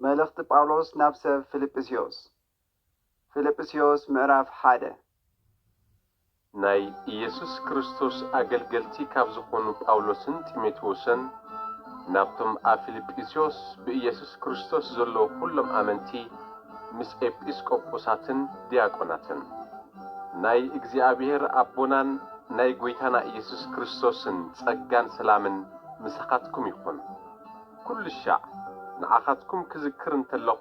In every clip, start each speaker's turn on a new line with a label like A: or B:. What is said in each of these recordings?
A: መልእኽቲ ጳውሎስ ናብ ሰብ ፊልጵስዮስ ፊልጵስዮስ ምዕራፍ ሓደ።
B: ናይ ኢየሱስ ክርስቶስ ኣገልገልቲ ካብ ዝኾኑ ጳውሎስን ጢሞቴዎሰን ናብቶም ኣብ ፊልጵስዮስ ብኢየሱስ ክርስቶስ ዘለዉ ኹሎም ኣመንቲ ምስ ኤጲስቆጶሳትን ዲያቆናትን። ናይ እግዚኣብሔር ኣቦናን ናይ ጐይታና ኢየሱስ ክርስቶስን ጸጋን ሰላምን ምሳኻትኩም ይኹን። ኩሉሻዕ ንዓኻትኩም ክዝክር እንተለኹ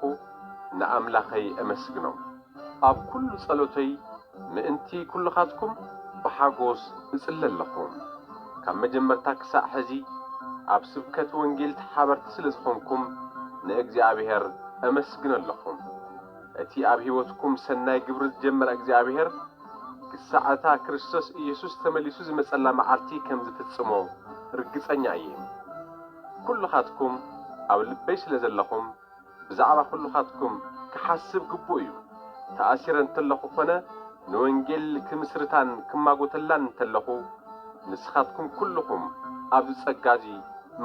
B: ንኣምላኸይ እመስግኖ። ኣብ ኩሉ ጸሎተይ ምእንቲ ኩልኻትኩም ብሓጎስ እጽሊ ኣለኹ። ካብ መጀመርታ ክሳዕ ሕዚ ኣብ ስብከት ወንጌል ተሓበርቲ ስለ ዝኾንኩም ንእግዚኣብሄር እመስግኖ ኣለኹ። እቲ ኣብ ህይወትኩም ሰናይ ግብሪ ዝጀመረ እግዚኣብሄር፣ ክሳዕ እታ ክርስቶስ ኢየሱስ ተመሊሱ ዝመጸላ መዓልቲ ከም ዝፍጽሞ ርግጸኛ እየ። ኩልኻትኩም ኣብ ልበይ ስለ ዘለኹም ብዛዕባ ኩልኻትኩም ክሓስብ ግቡእ እዩ። ተኣሲረ እንተለኹ ኮነ ንወንጌል ክምስርታን ክማጎተላን እንተለኹ ንስኻትኩም ኩልኹም ኣብዚ ጸጋ እዚ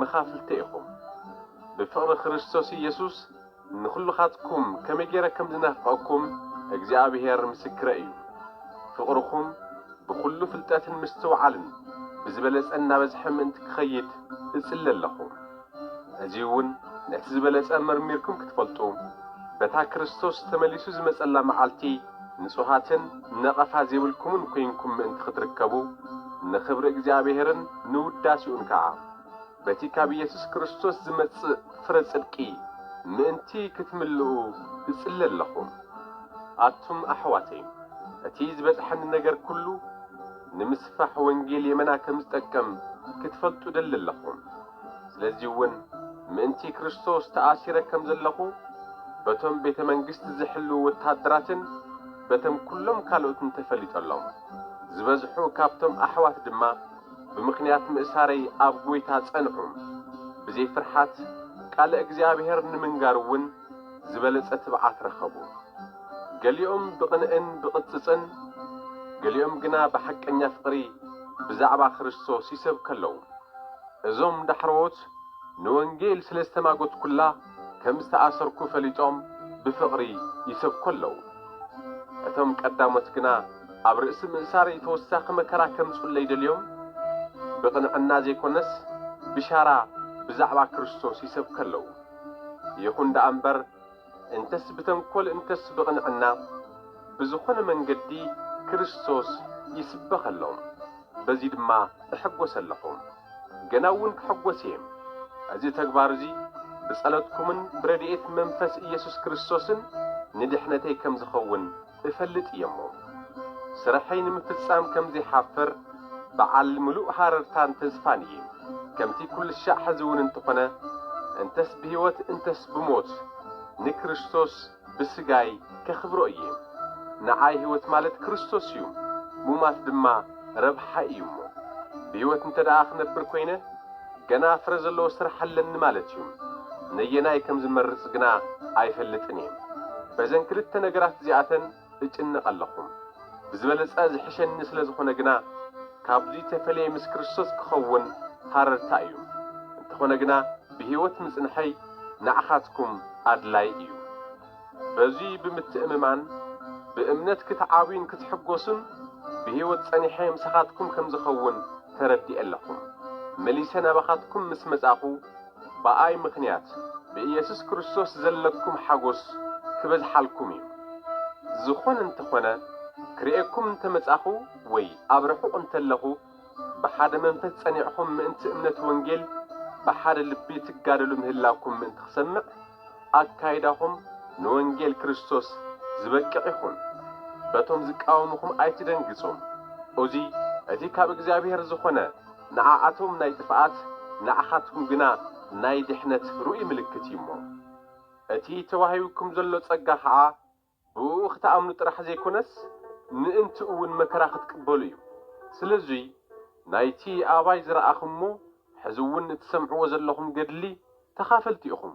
B: መኻፍልተይ ኢኹም። ብፍቕሪ ክርስቶስ ኢየሱስ ንኹልኻትኩም ከመይ ጌረ ከም ዝናፍቐኩም እግዚኣብሄር ምስክረይ እዩ። ፍቕርኹም ብኹሉ ፍልጠትን ምስትውዓልን ብዝበለጸ እናበዝሐ ምእንቲ ክኸይድ እጽሊ ኣለኹ። እዚውን ነቲ ዝበለጸ መርሚርኩም ክትፈልጡ፣ በታ ክርስቶስ ተመሊሱ ዝመጸላ መዓልቲ ንጹሃትን ነቐፋ ዘይብልኩምን ኮይንኩም ምእንቲ ክትርከቡ፣ ንኽብሪ እግዚኣብሄርን ንውዳሴኡን ከኣ። በቲ ካብ ኢየሱስ ክርስቶስ ዚመጽእ ፍረ ጽድቂ ምእንቲ ኽትምልኡ እጽሊ ኣሎኹ። ኣቱም ኣሕዋተይ፣ እቲ ዝበጽሓኒ ነገር ኵሉ፣ ንምስፋሕ ወንጌል የመና ከም ዝጠቅም ክትፈልጡ እደሊ ኣሎኹ። ስለዚውን ምእንቲ ክርስቶስ ተኣሲረ ከም ዘሎኹ፣ በቶም ቤተ መንግሥት ዚሕልዉ ወተሃደራትን በቶም ኵሎም ካልኦትን ተፈሊጡ ኣሎ። ዝበዝሑ ካብቶም ኣሕዋት ድማ፣ ብምኽንያት ምእሳረይ ኣብ ጐይታ ጸንዑ። ብዘይ ፍርሓት ቃለ እግዚኣብሔር ንምንጋር እውን ዝበለጸ ትብዓት ረኸቡ። ገሊኦም ብቕንእን ብቕጽጽን ገሊኦም ግና ብሓቀኛ ፍቕሪ ብዛዕባ ክርስቶስ ይሰብከለዉ። እዞም ዳሕረዎት ንወንጌል ስለ ዝተማጐትኩላ፣ ከም ዝተኣሰርኩ ፈሊጦም ብፍቕሪ ይሰብኩ ኣለዉ። እቶም ቀዳሞት ግና ኣብ ርእሲ ምእሳረይ ተወሳኺ መከራ ከምጽኡለይ ደልዮም ብቕንዕና ዘይኮነስ ብሻራ ብዛዕባ ክርስቶስ ይሰብኩ ኣለዉ። ይኹን ደኣ እምበር እንተስ ብተንኮል እንተስ ብቕንዕና ብዝኾነ መንገዲ ክርስቶስ ይስበኸሎም በዚ ድማ እሕጎሰ ኣለኹ። ገና እውን ክሕጐስ እየ። እዚ ተግባር እዚ ብጸሎትኩምን ብረድኤት መንፈስ ኢየሱስ ክርስቶስን ንድሕነተይ ከም ዝኸውን እፈልጥ እየ እሞ፣ ስርሐይ ንምፍጻም ከም ዘይሓፍር ብዓል ምሉእ ሃረርታን ተስፋን እየ። ከምቲ ኩልሻዕ ሕዚ እውን እንተኾነ፣ እንተስ ብህይወት እንተስ ብሞት ንክርስቶስ፣ ብስጋይ ከኽብሮ እየ። ንዓይ ሕይወት ማለት ክርስቶስ እዩ፣ ምሟት ድማ ረብሓይ እዩ እሞ፣ ብሕይወት እንተደኣ ክነብር ኮይነ፣ ገና ፍረ ዘለዎ ስራሕ ኣለኒ ማለት እዩ። ነየናይ ከም ዝመርጽ ግና ኣይፈልጥን እየ። በዘን ክልተ ነገራት እዚኣተን እጭነቕ ኣለኹ። ብዝበለጸ ዝሕሸኒ ስለ ዝኾነ ግና፣ ካብዙይ ተፈልየ ምስ ክርስቶስ ክኸውን ሃረርታ እዩ። እንተኾነ ግና፣ ብህይወት ምጽንሐይ ንዓኻትኩም ኣድላዪ እዩ። በዙይ ብምትእምማን፣ ብእምነት ክትዓብዩን ክትሕጐሱን፣ ብህይወት ጸኒሐ ምሳኻትኩም ከም ዝኸውን ተረዲኤ ኣለኹ። መሊሰ ናባኻትኩም ምስ መጻኹ፣ ብኣይ ምኽንያት፣ ብኢየሱስ ክርስቶስ ዘለኩም ሓጐስ ክበዝሓልኩም እዩ። ዝኾነ እንተኾነ፣ ክርእየኩም እንተመጻኹ ወይ ኣብ ርሑቕ እንተለኹ፣ ብሓደ መንፈስ ጸኒዕኹም ምእንቲ እምነት ወንጌል ብሓደ ልቢ ትጋደሉ ምህላኩም ምእንቲ ክሰምዕ፣ ኣካይዳኹም ንወንጌል ክርስቶስ ዝበቅዕ ይኹን። በቶም ዝቃወሙኹም ኣይትደንግጹ። ኡዙይ እቲ ካብ እግዚኣብሔር ዝኾነ ንዓኣቶም ናይ ጥፍኣት ንዓኻትኩም ግና ናይ ድሕነት ርኡይ ምልክት እዩ እሞ፣ እቲ ተዋሂቡኩም ዘሎ ጸጋ ኸዓ፣ ብእኡ ክትኣምኑ ጥራሕ ዘይኮነስ ምእንትኡ ውን መከራ ክትቅበሉ እዩ። ስለዙይ ናይቲ ኣባይ ዝረኣኹምዎ ሕዚ ውን እትሰምዕዎ ዘለኹም ገድሊ ተኻፈልቲ ኢኹም።